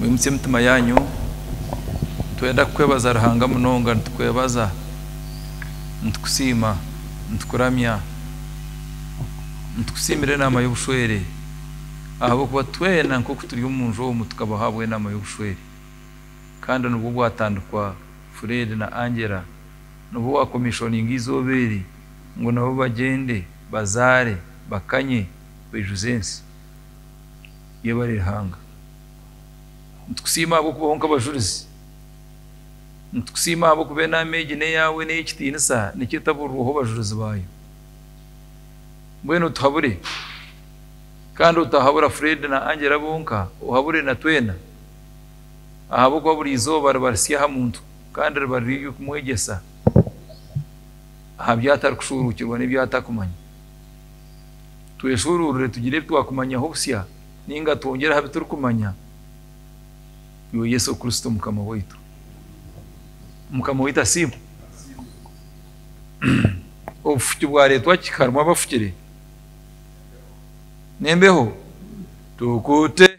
Mwimutsye emitima yaanyu. Nitwenda kukwebaza Ruhanga munonga. Nitukwebaza, nitukusiima, nitukuramya. Nitukusiimira enaama y'obushwere ahabw'okuba twena nk'oku turi omu nju omu tukaba ahabw'enaama y'obushwere. Kandi nibwo bwatandikwa Fred na Angela. Nibwo waakomishoninga eizooba eri ngu nabo bagyende, bazaare, bakanye, baijuze ensi. Yebare Ruhanga. Nitukusiima ahabw'okubaho nk'abajurizi. Nitukusiima ahabw'okuba enaama egi n'eyaawe n'ey'ekitiinisa nikyo etaburirweho bajurizi baayo. Mbwenu otuhabure, kandi otaahabura Fred na Angela bonka, ohabure na twena, ahabw'okuba buri izooba riba risya aha muntu kandi riba riri ery'okumwegyesa aha by'atarikushuuruukirwa n'eby'atakumanya. Tweshuuruurire tugire ebi twakumanyaho busya nainga twongere aha bi turikumanya Iwe Yesu Kristo Mukama waitu. Mukama waitu asiimwe. Obufuki bwareetwa ki? Harimu abafukire n'embeho? Tukute.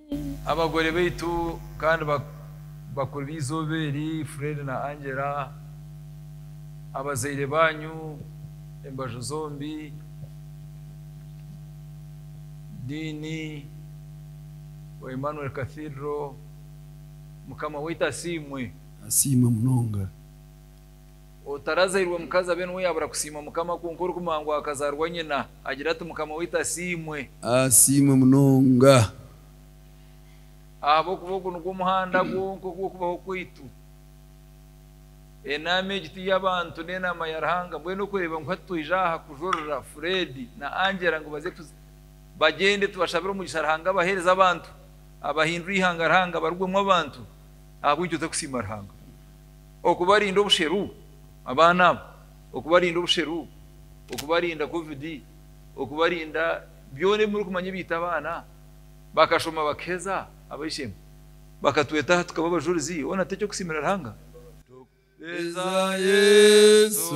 Abagore baitu kandi bakuru b'eizooba eri, Fred na Angela, abazaire baanyu embaju zombi, Dean wa Emmanuel Cathedral, Mukama waitu asiimwe. Asiimwe munonga. Otarazairwe mukazi abe niwe yabura kusiima Mukama kwonka orikumuha ngu akazaarwa nyina agire ati Mukama waitu asiimwe. Asiimwe munonga. Ahabw'okuba ogu nigwo muhanda gwonka ogw'okubaho kwaitu. Enaama egi ti y'abantu ni enaama ya Ruhanga. Mbwenu okureeba ngu hati twija aha kujurira Fred na Angela ngu baze tu bagyende tubashabire omugisha Ruhanga abaheereze abantu abahindure eihanga Ruhanga abarugwemu abantu ahabw'enki otarikusiima Ruhanga? okubarinda obusheru abaana abo, okubarinda obusheru, okubarinda covid, okubarinda byona ebi murikumanya ebiita abaana, bakashoma bakaheza abaishemba bakatwetaho tukaba abajurizi hoona teky'okusiimira Ruhanga? Tukuheeza Yesu.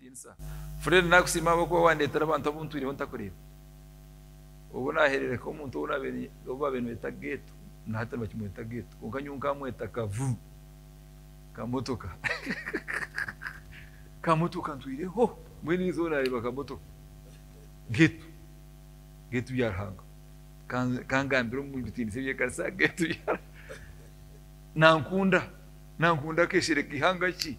Vincent, Fred nakusiima ahabw'okuba wandeetera abantu abu ntwireho ntakureeba. Obu naaherereka omuntu ou baabaire nibeeta Getu, na hati nibakimweta Getu, kwonka nyowe nkaamweta Kavu, Kamotoka. Kamotoka ntwireho, mbwenu erizooba naareeba Kamotoka. Getu, Getu Byaruhanga. Kangambire omu bitiinisa eby'ekanisa, Getu Byaruhanga. Nankunda, Nankunda akeshere k'eihanga ki?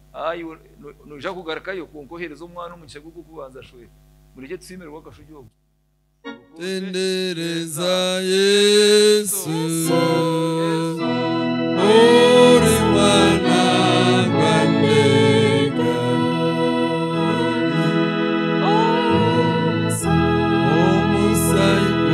Ayo, no, noija kugarukayo, kwonka oheereze omwana omukisha gw'okubanza. Shwee. Murekye tusiimirwe akashugi obu. Tendereza Yesu, ori mwana gwa Nyenga. Omusaiku.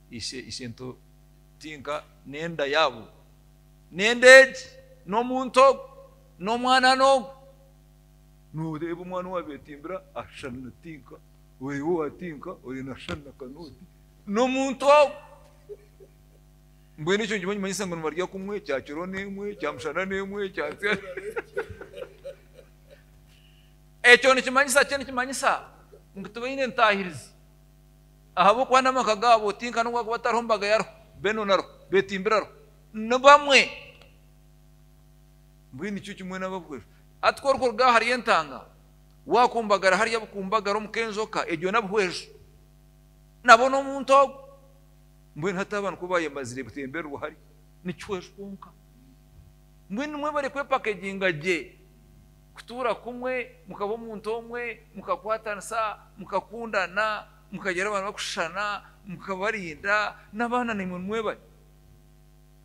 Ishe, ishe nto tinka n'enda yaabo, n'enda egi, n'omuntu ogu, n'omwana n'ogu. Nooreeba omwana owabeetimbira ashushana na tinka, oreeba owa tinka oreeba ashushana na kanooti, n'omuntu ogu. Mbwenu ekyo nikiba nikimanyisa ngu nibarya kumwe, kyakiro n'emwe, kyamushana n'emwe, kyatsya ekyo nikimanyisa ki? Nikimanyisa ngu tibaine ntaahirizi. Ahabw'okuba n'amaka gaabo tinka n'obu baakuba batariho mbaga yariho, beenoona ariho, beetimbira ariho, ni bamwe. Mbwenu nikyo kimwe n'abahweru. Hati ku orikuruga ahari entanga waakumbagara hariya bukumbagara omu k'enjoka, egyo n'abahweru. Nabo n'omuntu ogwo. Mbwenu hati abantu ku baayemazire kutembererwa hariya, ni kihweru kwonka. Mbwenu nimwe barikwepakeginga gye. Kutuura kumwe, mukaba omuntu omwe, mukakwatanisa, mukakundana, mukagira abaana barikushushana, mukabarinda, n'abaana naimwe nimwebare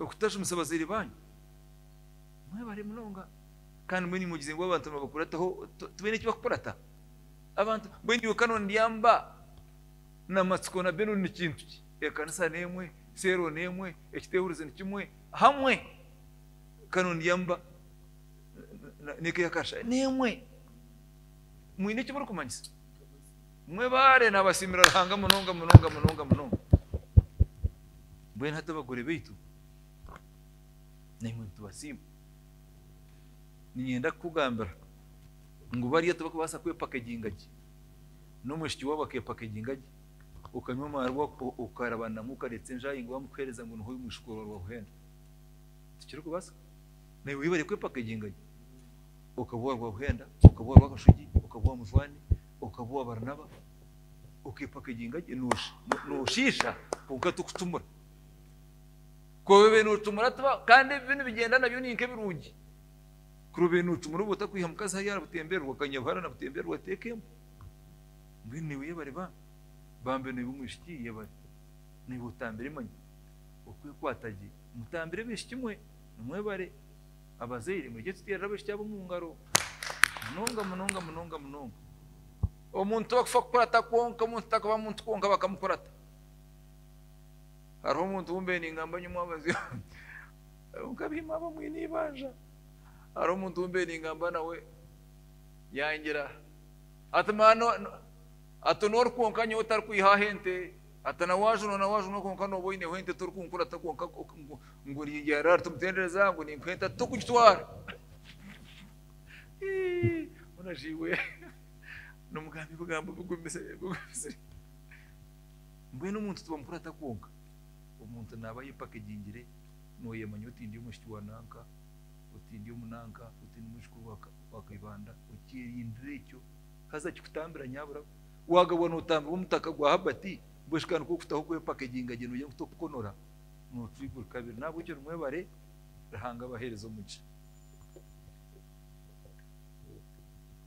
okutashumisa abazaire baanyu. Mwebare munonga. Kandi mbwenu imwe mugize ngu abantu nibabakurataho, tibaine eki bakukurata? Abantu, mbwenu iwe kare ondya mba na matsiko na Benon ni kintu ki? Ekanisa n'emwe, seero n'emwe, ekiteehuruzi ni kimwe, hamwe kare ondya mba. nikekasha n'emwe mwine eki murikumanyisa mwe baare nabasiimira ruhanga munonga munonga munonga munonga mbwenu hati abagore baitu naimwe nitubasiima ninyenda kukugambira ngu bariya tibakubaasa kwepaka egingagi n'omwishiki waabo akepaka egingagi okanywa amaari okarabanamu okareetsa enjaahi ngu wamukuheereza ngu niho oyu mwishiki waaba wakuhenda tikirikubaasa Naiwe webare kwepaka enginga yo. Okaba owa Rwabuhenda, okaba owa Rwakashugi, okaba owa Mujwani, okaba owa Baranaba, okepaka enginga gye, noshiisha kwonka tikutumura. Ku obaire notumura tiba, kandi ebi nibigyenda nabyo ni nk'ebirungi. Kuri obaire notumura oba otakwiha mukazi hariya aha butembererwa, okanywa buhara na butembererwa teeka embwa. Mbwenu naiwe yebare bambi. Bambi naiwe omwishiki yebare. Naiwe otambire manya. Okwekwata gye. Mutambire abaishiki mwe. Nimwebare abazaire mwije tuteerere abaishiki abo omu ngaro munonga munonga munonga munonga. Omuntu tibakufwa kukurata kwonka omuntu takaba muntu kwonka bakamukurata hariho omuntu wumbe ningamba nyomu abazi hariho nkabihima abo mwine ibanja hariho omuntu wumbe ningamba nawe yangira ati mano ati nori kwonka nyowe otarikwihaho ente Ata na waaju noona waaju noona kwonka nooba oineho ente torikunkurata kwonka ngu oringyera rara timutendereza ngu ninkuha ente ati tokugitwara. Mbwenu aja iwe nomugamba ebigambo bigumisire bigumisire. Mbwenu omuntu tibamukurata kwonka. Omuntu naaba ayepakegingire noyemanya oti ndi omwishiki wa nanka, oti ndi omu nanka, oti ndi mwijukuru wa Kaibanda okyerindire ekyo haza kikutambira nyabura. Wagabwa notambirwa omutaka gwa Herbert mbwenu kandi nikwo kutaho kwepakeginga gye nogira ngu tokukonora noturi buri kabiri nahabwekyo nimwebare Ruhanga abahereze omugisha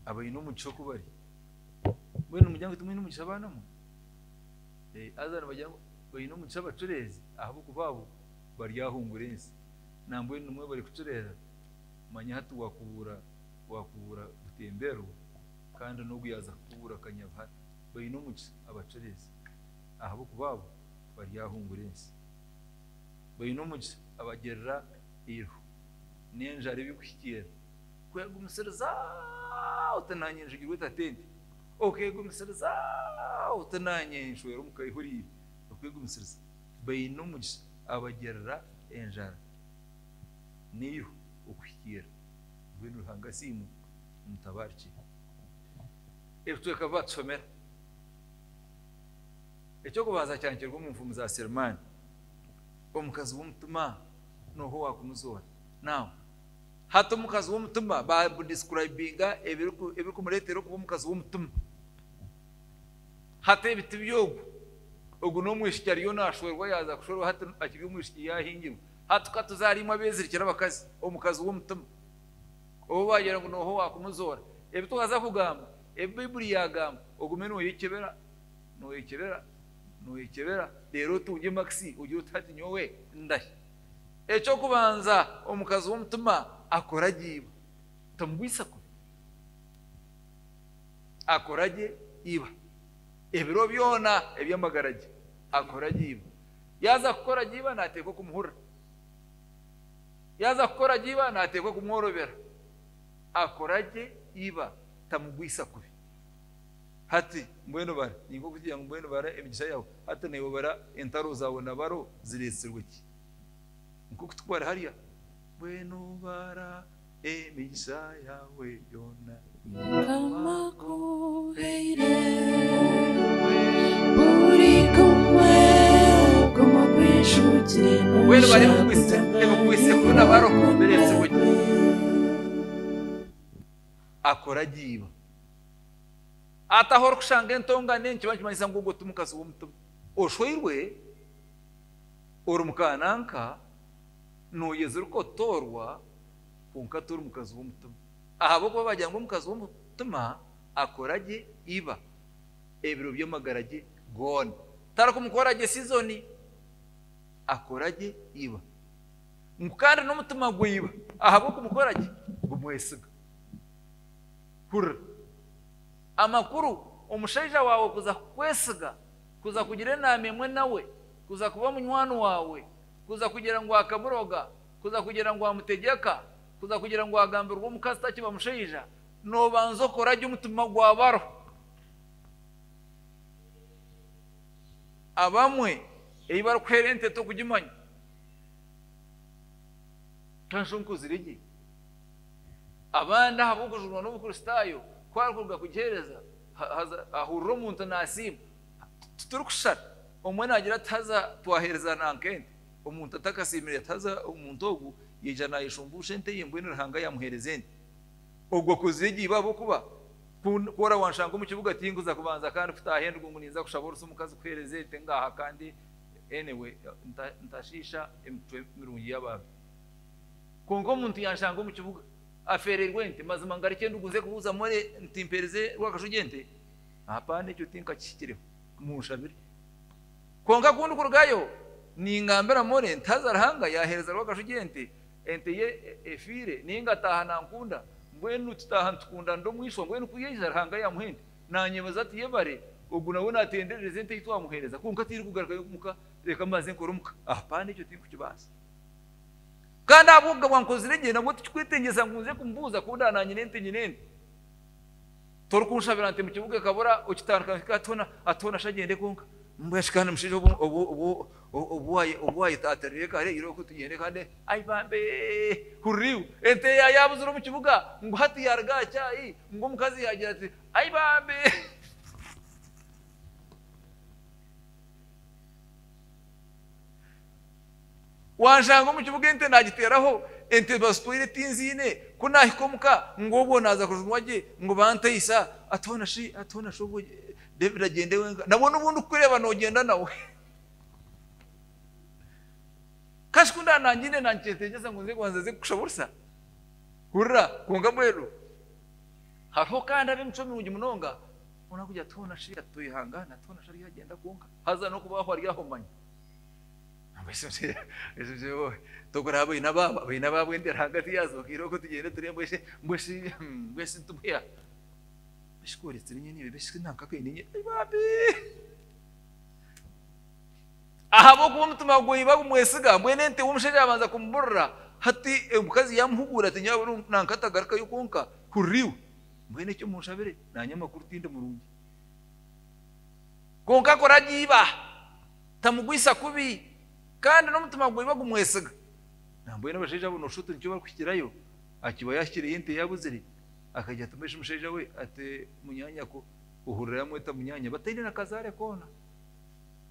abaine omugisha okubari mbwenu nimugira ngu timwine omugisha abaana mwe eh, haza nibagira ngu baine omugisha abacureezi ahabw'okuba abo baryahungura ensi nambwenu nimwebare kucureera manya hati wakubuura wakubuura butemberwa Kandi n'ogu yaaza kukubuura akanyabuhara, baine omugisa abacureezi, ahabw'okuba abo baryahungura ensi. Baine omugisa abagirira eirho n'enjara ebirikuhikiirira. Kwegumisiriza oti, Naanye njugirwe etatenti, okeegumisiriza oti, Naanye nshwera omu kaihuriire. Okwegumisiriza. Baine omugisa abagirira enjara n'eirho okuhikiirira. Mbwenu Ruhanga asiimwe! Mutabaruki. Ebicweka bi baatusomera. Eky'okubanza kyanikirwe omu nfumu za Selemani. Omukazi w'omutima nooha owaakunuzoora? Now, hati omukazi w'omutima ba describinga ebirikumureetera okuba omukazi w'omutima. Hati ebi tiby'ogu. Ogu n'omwishiki ariyo naashwerwa yaaza kushwerwa hati akiri omwishiki yaahingirwa. Hati ka tuzaariimwe abeezirikire abakazi, omukazi w'omutima. Obu waagira ngu nooha owaakumuzoora, ebi twaza kugamba, ebi Baibuli yaagamba, ogume nooyekyebera, nooyekyebera, nooyekyebera, reero otungye makisi ogire oti, Hati nyowe ndahi? Eky'okubanza, omukazi w'omutima akora gye iba. Tamugwisa kubi. Akora gye iba. Ebiro byona eby'amagara ge akora gye iba. Yaaza kukora gye iba naateeka okumuhurira. Yaaza kukora gye iba naateekwa kumworobera. Akora gye iba tamugwisa kubi. Hati mbwenu bara. Ni nk'okutugirira ngu mbwenu bara emigisa yaawe. Hati naiwe obara entaro zaawe na baro zireetsirwe ki? Ni nk'oku turikubara hariya, Mbwenu bara emigisa yaawe yoona. Mukama akuheire buri gumwe gumwe ogw'enshugire Mbwenu bari omu kwise- omu kwisekuru na barokombera ebizibu gye. Akora agiiba. Hati ahu orikushanga entongane nikiba nikimanyisa ngu ogwo ti mukazi w'omutima. Oshweirwe, ori mu ka nanka, nooyezirika otoorwa, kwonka tori mukazi w'omutima. Ahabw'okuba baagira ngu omukazi w'omutima akora gye iba ebiro by'amagara ge goona, tarikumukora gye sizoni, akora gye iba. Ngu kandi n'omutima gwa iba ahabw'okumukora gye gumwesiga. Hurira amakuru, omushaija waawe kuza kukwesiga, kuza kugira enaama emwe nawe, kuza kuba munywani waawe, kuza kugira ngu akamuroga, Kuza kugira ngu amutegyeka, kuza kugira ngu agambirwe omukazi takiba mushaija, nobanza okora gye omutima gwabaro. Abamwe eyi bari kuhera ente tokugimanya. Tanshunkuuzire gye. Abandi ahabwokujunwa n'obukristaayo ku ari kuruga kugihereza, haza ahurira omuntu nasiima. Tituri kushushana. Omwe nagira ati haza twahereza nanka ente. Omuntu atakasiimire yatahaza omuntu ogwo, yaija naayeshumbuusha ente ye mbwenu Ruhanga yaamuheereza ente. Ogwo akozire egyo iba ahabw'okuba ku ku orawanshanga omu kibuga tinkuza kubanza kandi kutaaha endigo ngu ninza kushaba orusa omukazi kuheereza ente ngaaha kandi anyway nta ntashiisha emitwe mirungi y'abantu. Kwonka omuntu yaanshanga omu kibuga afeereirwe ente, mazima ngareke endigo nze kubuuza more nti mpeereze Rwakashugi ente? Hapana ekyo tinkakihikireho. Munshabire. Kwonka ku ndikurugayo, ningambira Molly nti haza Ruhanga yaaheereza Rwakashugi ente, ente ye efiire, naye ngataaha nankunda. Mbwenu tutaaha nitukundanira omu ishwa. Mbwenu ku yaija, Ruhanga yaamuha ente. Naanyebeza ati, Yebare, ogu nawe naatenderereza ente ei twamuheereza. Kwonka tirikugarukayo omu ka. Reka mbanze nkore omu ka. Hapana, ekyo tinkukibaasa. Kandi ahabw'okugabwa nkozire gye, nabwo tikikwetengyesa ngu nze kumubuuza ku ndaba naanyine ente nyine ente. Torikunshabira nte mukibuga ekabura okitandika nke hati hona hati hona sha gyende kwonka mbwenu shi kandi mushaija obu obu obu obu obu wayeta ati reka hare iroho ku tugyende kandi ai bambe hurira iwe ente ya yabuzire omukibuga ngu hati yaruga aha kyai ngu omukazi yagira ati ai bambe Wanshanga omu kibuga ente naagiteeraho, ente bazitwaire tinziine, ku naahika omu ka, ngu obwo naaza kujunwa gye, ngu bantaisa, atiho na shi, atiho na shi obwo David agyende wenka, nabwo n'obu ndikukureeba noogyenda nawe. Ka shi ku ndaba naangiine naagikyetengyesa ngu nze kubanza nze kukushaba orusa? Hurira, kwonka mbwenu hariho kandi ab'emicwe mirungi munonga, boona barikugira atiho na shi ati toyehangaana, atiho na shi ariyo agyenda kwonka, haza n'okuba hariho ari aho manya. Tokuraba baine abaabo, baine abaabo ente ahagati yaazo bakaira okwo tugyende tureebe ngu eshwi tibwiya. Eshwi ku oretsire enyene eyo eshwi nanka ku eine enyene ai bambi. Ahabw'okuba omutima gwe iba gumwesiga mbwenu ente omushaija yaabanza kumuburira hati omukazi yaamuhugura ati nanka tagarukayo kwonka hurira iwe. Mbwenu ekyo munshabire naanye amakuru tindi murungi. Kwonka kuragiiba. Tamugwisa kubi kandi n'omutima gwaiwe gumwesiga. Nambwenu abashaija abo noshusha oti nikyo barikuhikirayo, akiba yahikireyo ente yaabuzire, akaija atuma ishimushaija we ati, Munyaanyako, ohurira yaamweta munyaanya, bataine na kazaare koona.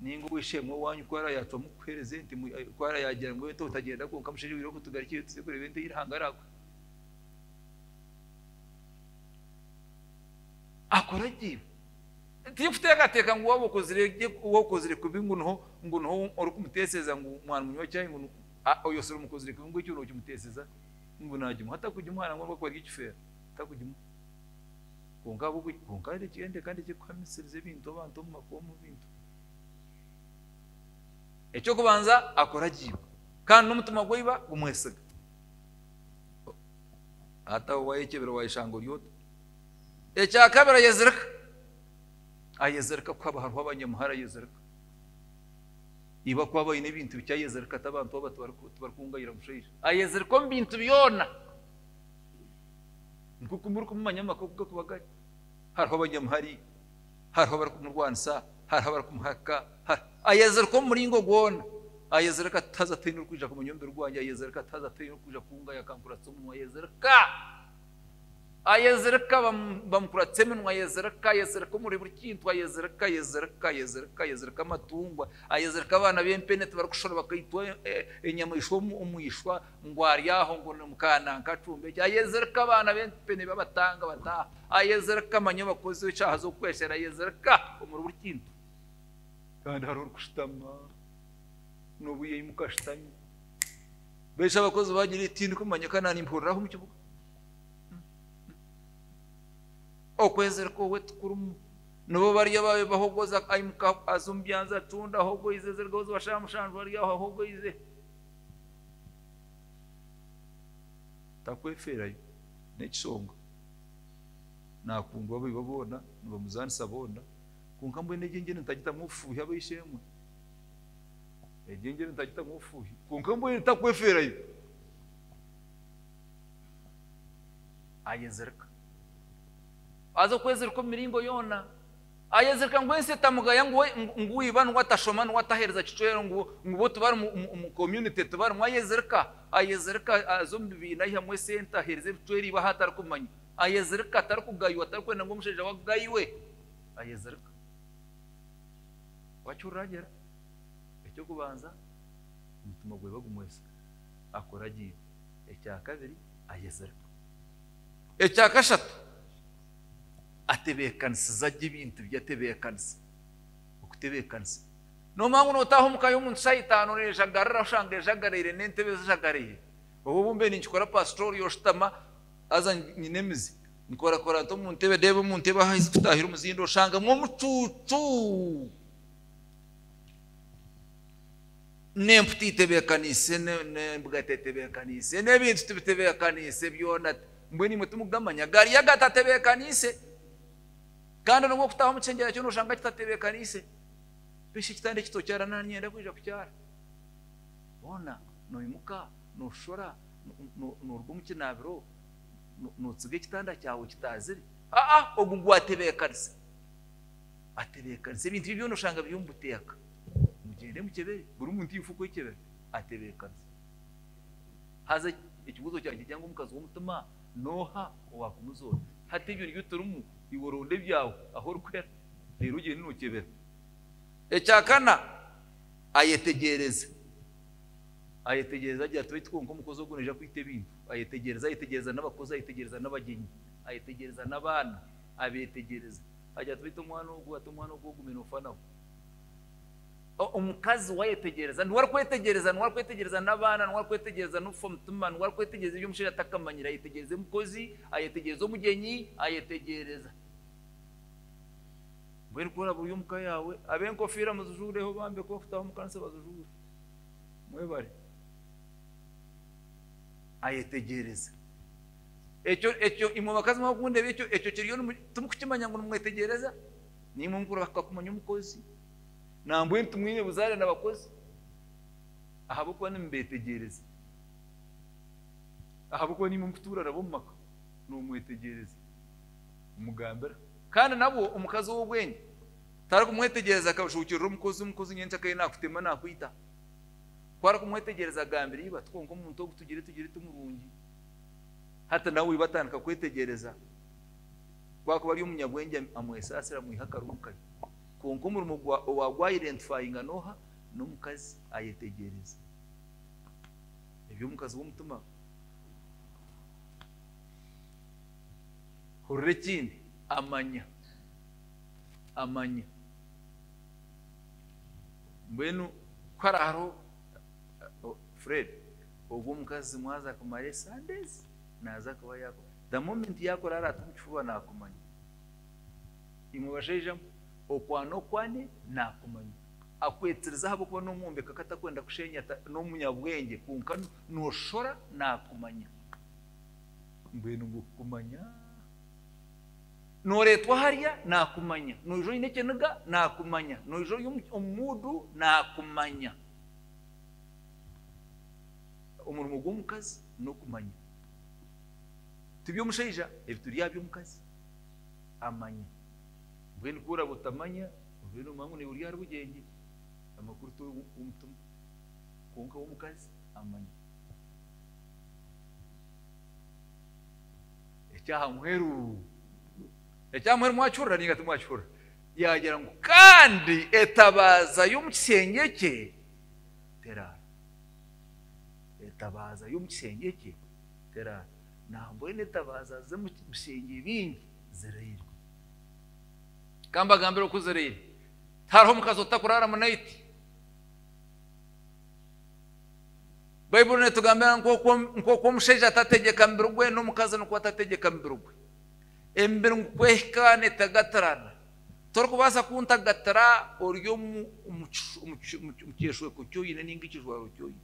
Nainga ow'eishe-emwe owaanyu ku araba yaacwamu kukuheereza ente, ku araba yaagira ngu ente otagenda kwonka mushaija owiire ogu tugarukire tuze kureeba ente ei Ruhanga araakuhe. Akora gye. Tirikuteekateeka ngu waaba okozire gye, waaba okozire kubi ngu niho, ngu niho orikumuteesereza ngu mwana munywa caayi ngu ni, a, oyo si omukozire kubi ngu ekyo nookimuteesereza ngu naagimuha. Atakugimuha nangwa nobu akuba ari ekifeero, takugimuha. Kwonka ahabw'okugira, kwonka reki, enda kandi ekiri kuhamisiriza ebintu abantu omu maka, omu bintu, eky'okubanza akuragiirwe kandi n'omutima gwa iba gumwesiga. Hati aho waayekyebera waayeshanga ori ota? Ekya kabiri ayezirika. Ayezirika kuhaba hariho abanyamuhara ayezirika. Iba akuba baine ebintu bikye ayezirika ati abantu aba tibarikungayira mushaija. Ayezirika omu bintu byona. Nk'oku murikumumanya amaka oku gakuba gari. Hariho abanyamuhari, hariho abarikumurwanisa, hariho abarikumuhakika. Ayezirika omu muringo gwona. Ayezirika ati haza tihaine orikwija kumanya omubiri gwangye. Ayezirika ati haza tihaine orikwija kungaya akankuratisa omunwa. Ayezirika. Ayezirika, bamukuratsa eminwa, ayezirika, ayezirika omuri buri kintu, ayezirika, ayezirika, ayezirika, ayezirika amatungwa, ayezirika abaana b'empene tibarikushusha bakaitwa enyamaishwa omu ishwa ngu ari aho ngu ni mukaananka acumba eki, ayezirika abaana b'empene babatanga bataaha, ayezirika manya obakoze eshaaha z'okukweshera, ayezirika omuri buri kintu. Kandi hariho orikushutama, n'obu yaimuka ashutami. Beijo abakozi bagira iti, Tindikumanya ka naanimpuriraho omu kibuga. Okwezirika owe tikurimu. Nibo bari abaabe bahogoza, aimuka aza omu byanzi atunda, ahogoize ezirigaho za shaaha mushanju ari aho ahogoize. Takwefeerayo n'ekishonga. Naakundwa abaiba boona, nibamuzaanisa boona, kwonka mbwenu egi engyende nitagitamu obufuuhi ab'eishe-emwe. Egyo engyeri nitagyeta ngu obufuuhi, kwonka mbwenu takwefeerayo. Ayezirika. Aza kwezirika omu miringo yoona. Ayezirika ngu ensi etamugaya ngu ngu iba niwe atashoma, niwe ataheereza kicwero, ngu ngu bo tibari mu community tibarimu. Ayezirika. Ayezirika aza omu bibiina aihamu esente aheereze ebicwero iba ahu atarikumanya. Ayezirika, tarikugaywa, tarikwenda ngu omushaija we agaywe. Ayezirika. Wakiruragera, eky'okubanza omutima gwe bagumwesiga, akuragiire. Ekya kabiri, ayezirika. Ekya kashatu, atebeekanisiza gye ebintu bye, atebeekanisa. Okutebeekanisa. Noomanya ngu nootaaha omu ka y'omuntu shaaha itaano neejagarira oshanga ejagaraire n'entebe zijagaraire. Obwo obumbe ninkikora paasita oriya oshutama haza nyine emizi. Nikorakora nta omu ntebe? Reeba omu ntebe ahu ahaizi kutaahira omuzindo oshangamu omucuucu n'empu teitebeekaniise n'embwa tetebeekaniise n'ebintu tibitebeekaniise byona mbwenu imwe timugamanya gaari y'aga tatebeekaniise kandi n'obu okutaaha omu kishengyerwa kyona oshanga kitatebeekaniise piki kitanda eki tokyaara nani nanyenda kwija kukyaara boona noimuka noshora noruga omu kinaabiro Nootsiga ekitanda kyawe kitaazire? Aa, ogu ngu atebeekanize. Atebeekanize. Ebintu bye byona oshanga biri omu buteeka. Mugyende mukyebere. Buri muntu aine kwekyebera. Atebeekanize. Haza ekibuuzo kyangye nikigira ngu omukazi w'omutima n'oha owaakumuzoora? Hati ebyo nibyo turimu. Iwe ronda ebyaawe ahu orikuhera, reero ogyende nookyebera. Ekyakana, ayetegyereze. Ayetegyereza gye ati, Baitu kwonka omukozi ogwo naija kwita ebintu. Ayetegyereza, ayetegyereza n'abakozi, ayetegyereza n'abagyenyi, ayetegyereza n'abaana, abeetegyereza. Agira ati, Baitu omwana ogwo, ati omwana ogwo ogume noofa nawe. Omukazi we ayetegyereza, niwe arikwetegyereza, niwe arikwetegyereza n'abaana, niwe arikwetegyereza n'okufa omutima, niwe arikwetegyereza ebi omushaija atakamanyire. Ayetegyereza omukozi, ayetegyereza omugyenyi, ayetegyereza. Mbwenu ku oraabe ori omu ka yaawe, ab'enkofiira muzijuureho, bambe ku orikutaaha omu kanisa bazijuure. Mwebare. Ayetegyereze. Ekyo, ekyo, imwe bakazi mwaba mukundeba ekyo, ekyo kiriyo nimu, timukukimanya ngu nimwetegyereza? Naimwe mukurahuka kumanya omukozi? Nambwenu timwine buzaare na bakozi? Ahabw'okuba nimubeetegyereza. Ahabw'okuba naimwe mukutuura nabo omu maka, noomwetegyereza. kumugambira. Kandi nabwo omukazi ow'obwengye tarikumwetegyereza akashuukirira omukozi, omukozi nyenkya akaiha naakutema naakwita. Ku arikumwetegyereza agambira iba, tikwonka omuntu ogu tugire tugire ti murungi. Hati nawe iba atandika kwetegyereza ku arikuba ari omunyabwengye amwesaasira amwiha akarungu kari. Kwonka omurimo owaagwaidentifayinga n'oha? N'omukazi ayetegyereza ebi omukazi w'omutima. Hurira ekindi, amanya. Amanya. Mbwenu ku hariho hariho oh, Fred, ogwo omukazi mwaza kumara esandeezi naaza kuba yaku the moment yakurara ati omu kifuba naakumanya imwe bashaija mwe okwana okwane naakumanya akwetiriza ahabw'okuba n'omwombeka ku atakwenda kusheenya n'omunyabwengye kwonka nooshora naakumanya Mbwenu ngu kukumanya, nooreetwa hariya, naakumanya, noija oine ekiniga, naakumanya, noija ori omu muudu, naakumanya. Omurimo gw'omukazi n'okumanya. Ti by'omushaija, ebi turi aha by'omukazi. Amanya. Mbwenu ku oraabe otamanya, obeire noomanya ngu naiwe ori ahari bugyengye, amakuru tori w'omutima. Kwonka ow'omukazi amanya. ekyaha muheru ekyaha muheru mwakihurira ninga timwakihurira yagira ngu kandi etabaaza y'omu kisengye kye teraara etabaaza y'omu kisengye kye teraara nambwenu etabaaza z'omu bisengye bingi ziraire kambagambira oku ziraire hariho omukazi otakuraara munaiti Baibuli netugambira ngu nk'oku omushaija atategyeka mubiri gwe, n'omukazi nikwo atategyeka mubiri gwe. Emibiri ngu kwehika netagatirana. Torikubaasa kuntagatira ori omu kyeshweko ki oine ninga ekijwaro ki oine.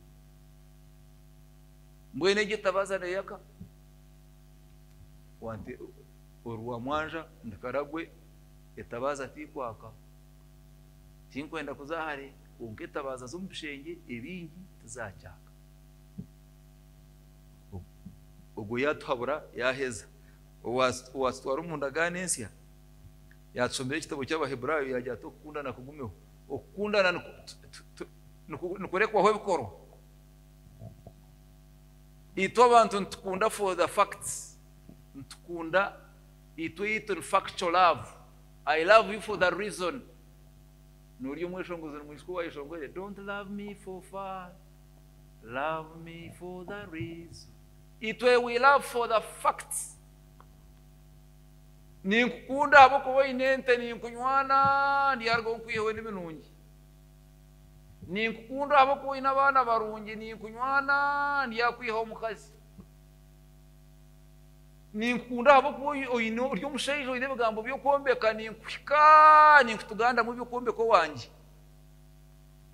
Mbwenu egyo etabaza neyaka? Ori wa mwanja ndi karagwe, etabaza tikwaka. Tinkwenda kuza hare. Kwonka etabaaza z'omu bishengye ebingi tizaakyaka. Ogwo yaatuhabura yaaheza. Owaatutwara omu ndagaano ensya yaatushomera ekitabo ky'Abaheburaayo yaagira ati, Okukundana kugumeho. Okukundana nikurekwaho ebikorwa. Itwe abantu nitukunda for the facts. Nitukunda, itwe eitu ni factual love. I love you for the reason. Nori omweshongozere mwisiki owayeshongwere don't love me for fun love me for the reason itwe we love for the facts ninkukunda ahabwokuba oine ente ninkunywana ndyarugaho nkwiheho nibinungi ninkukunda ahabwokuba oine abaana barungi ninkunywana ndyakwihaho omukazi Ninkukunda ahabw'okuba oine ori omushaija oine ebigambo by'okwombeka, ninkuhika, ninkutugandamu eby'okwombeka owangye.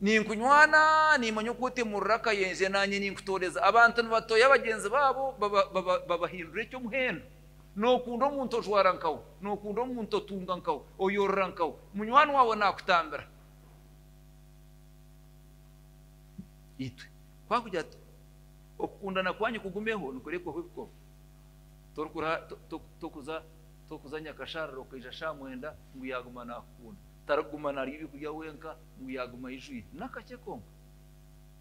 Ninkunywana, niimanya oku otemurira akayenje, naanye ninkutooreza. Abantu nibatoya bagyenzi baabo, babahindura eky'omuhendo. Nookunda omuntu ojwara nkawe, nookunda omuntu otunga nkawe, oyorora nkawe, munywani waawe naakutambira. Itwe twakugira tuti. Okukundana kwanyu kugumeho nikurekwaho ebikomo. Torikuza nyakasharara okaija shaaha mwenda ngu yaaguma naakukunda. Tarikuguma naarya ebyokurya wenka ngu yaaguma ayijwire. N'akakye konka.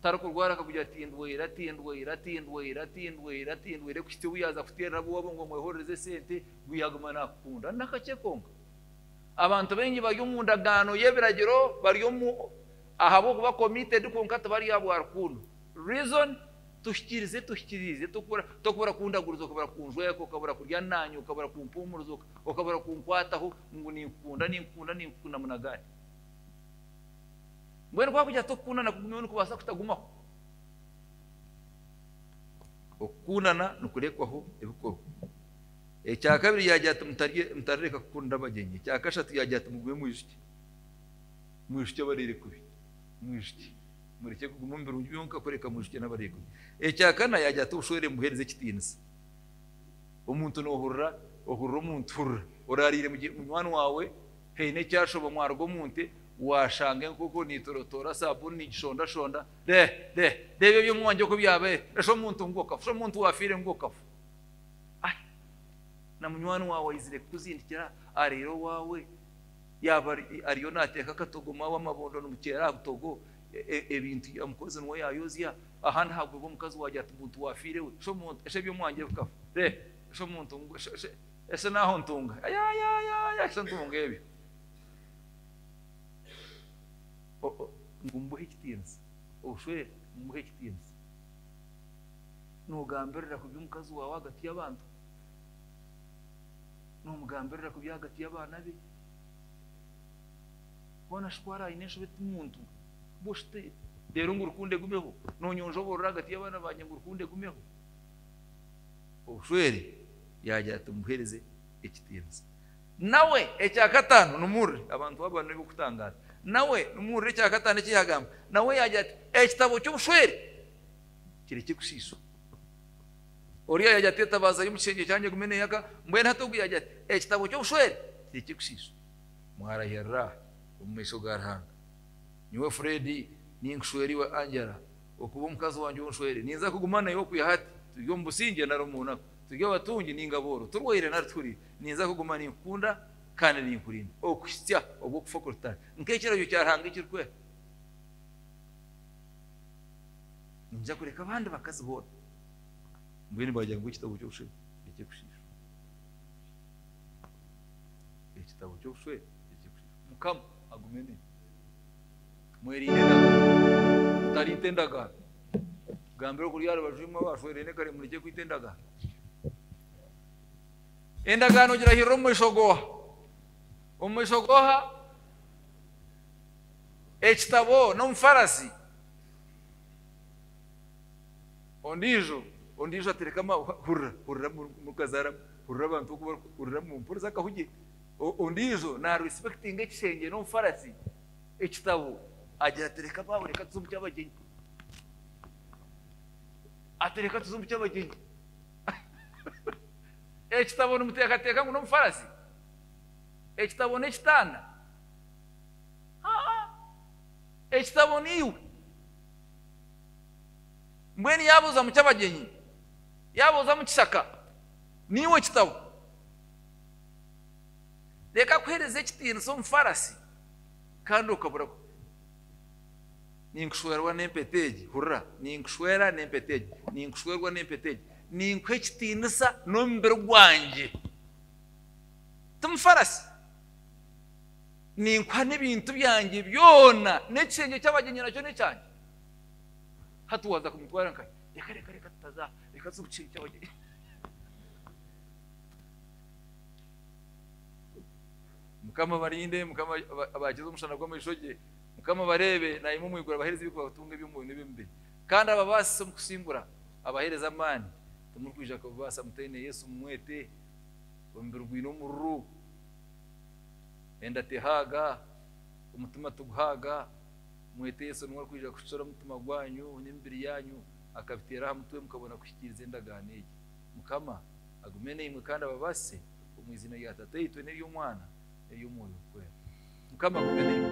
Tarikurwara akakugira ati ndwaire, ati ndwaire, ati ndwaire, ati ndwaire, ati ndwaire kuhitsya obu yaaza kuteerera ab'owaabo ngu omwehorereze sente ngu yaaguma naakukunda. N'akakye konka. Abantu baingi bari omu ndagaano y'ebiragiro, bari ahabw'okuba committed kwonka tibari aha bwa rukundo. Reason, Tuhikirize tuhikiriize tokubura tokubura kundaguriza okabura kunjweka okabura kurya naanye okabura kumpuumuriza oka okabura kunkwataho ngu ninkukunda ninkukunda ninkukunda munagari mbwenu kwakugira tokukundana kugumiho nikubaasa kutagumaho okukundana nikurekwaho ebikorwa ekyakabiri yaagira ati mutarye mutarareka kukunda abagyenyi ekyakashatu yaagira ati mugume mwijukye mwijukye abareire kubi mwijukye Murekye kuguma omu birungi byonka kureka mwijukye n'abareekugye. Ekya kana, yaagira ati, Obushwere mubuheereze ekitiinisa. Omuntu noohurira, ohurira omuntu, hurira oraariire munywani waawe, haine ekyashoba mwaruga omu nte, waashanga enkoko neetorotoora, saabuuni niigishondashonda, re, re, reeba eby'omu mwangye oku byabaire, resha omuntu ngu okafa, omuntu waafiire ngu okafa. Ai, na munywani waawe aizire kukuzindikira, areera owaawe. Yaaba ariyo naateeka akatogo maawe amabondo nimukyera aha butogo ebintu ya mukozi niwe yaayozya. Aha nihagwibwa omukazi waagira ati ngu ntiwaafiire we, esha eby'omwangye bikafa re, esha omuntu ngu esha naaho ntunga yayayaya esha ntunga ebyo ngu mbuhe ekitiinisa obushwere mbuhe ekitiinisa. Noogambirira kubi omukazi waawe ahagati y'abantu? nomugambirira kubi ahagati y'abaana be. Hoona shi ku araba aine enshobe ti muntu? Bushi ti reero ngu rukundo egumeho nonyonja oburora ahagati y'abaana bangye ngu rukundo egumeho? Obushwere yaagira ati, Muheereze ekitiinisa. Nawe, ekya kataano, nimuwurire. Abantu aba ni b'okutangaaza. Nawe, nimuwurire ekya kataano eki yaagamba. Nawe yaagira ati, Ekitabo ky'obushwere kirekye kusiiswa. Oriya yaagira ati, Etabaaza y'omu kishengye kyangye egume neeyaka. Mbwenu hati ogu yaagira ati, Ekitabo ky'obushwere tikirikushiishwa. Mwarahirira omu maisho ga Ruhanga. Nyowe Fred, ninkushwera iwe Angela, okuba omukazi wangye ou nshwere. Ninza kuguma naiwe okwiha hati, turi omu busingye nari omu naku, turi abatungi ninga abooro, turwaire nari tuhuriire. Ninza kuguma ninkukunda kandi ninkurinda okuhitsya obu okufa kuritahe, nk'ekiragiro kya Ruhanga ekirikweha. Ninyija kureka abandi bakazi boona. Mbwenu baagira ngu ekitabo ky'obushwere n'eky'okushiishwa. Ekitabo ky'obushwere n'eky'okushiishwa. Mukama agume naimwe. Mwerinde endagaano. Mutariita endagaano. Gambira okuri aha rubaju imwe abashwereine kare murekye kwita endagaano. Endagaano ogirahirira omu maisho g'oha? Omu maisho g'oha? Ekitabo n'omufarasi. Ondiijo, ondiijo atereka ama, hurira, hurira murukazaara, hurira abantu oku bari, hurira mu, mpuriza akahugye. O, ondiijo naarespekitinga ekishengye n'omufarasi, ekitabo, agira tereka abaawe, reka tuze omu ky'abagyenyi. Atereka tuze omu ky'abagyenyi. ekitabo nimuteekateeka ngu n'omufarasi? Ekitabo n'ekitanda? Haa! Ekitabo niiwe. Mbwenu yaabuuza mukyabagyenyi, yaabuuza mukishaka, naiwe kitabo? Reeka kuheereza ekitiinisa omufaarasi kandi okabura kubi. Ninkushwerwa n'empeta egi, hurira, ninkushwera n'empeta egi, ninkushwerwa n'empeta egi, ninkuha ekitiinisa n'omubiri gwangye. Timufaarasi? Ninkuha n'ebintu byangye byona, n'ekishengye ky'abagyenyi nakyo n'ekyangye. Hati waaza kumutwara nka reka reka reka tutaza reka tuze kukiri kyabo mukama abarinde mukama abakize omushana gw'amaisho gye mukama abareebe naimwe omu iguru abaheereza ebikubatunga eby'omwoyo n'eby'omu mubiri kandi ababaasise omu kusingura abaheereza amaani timurikwija kubibaasa mutaine yesu mumwete omubiri gwine omururu enda tehaaga omutima tiguhaaga Mwete Yesu niwe arikwija kushusha omutima gwanyu n'emibiri yaanyu, akabiteera aha mutwe mukabona kuhikiiriza endagaano egi. Mukama agume naimwe kandi ababaasise omu iziina rya Tataitwe n'ery'Omwana n'ery'Omwoyo Mukwera. Mukama agume naimwe.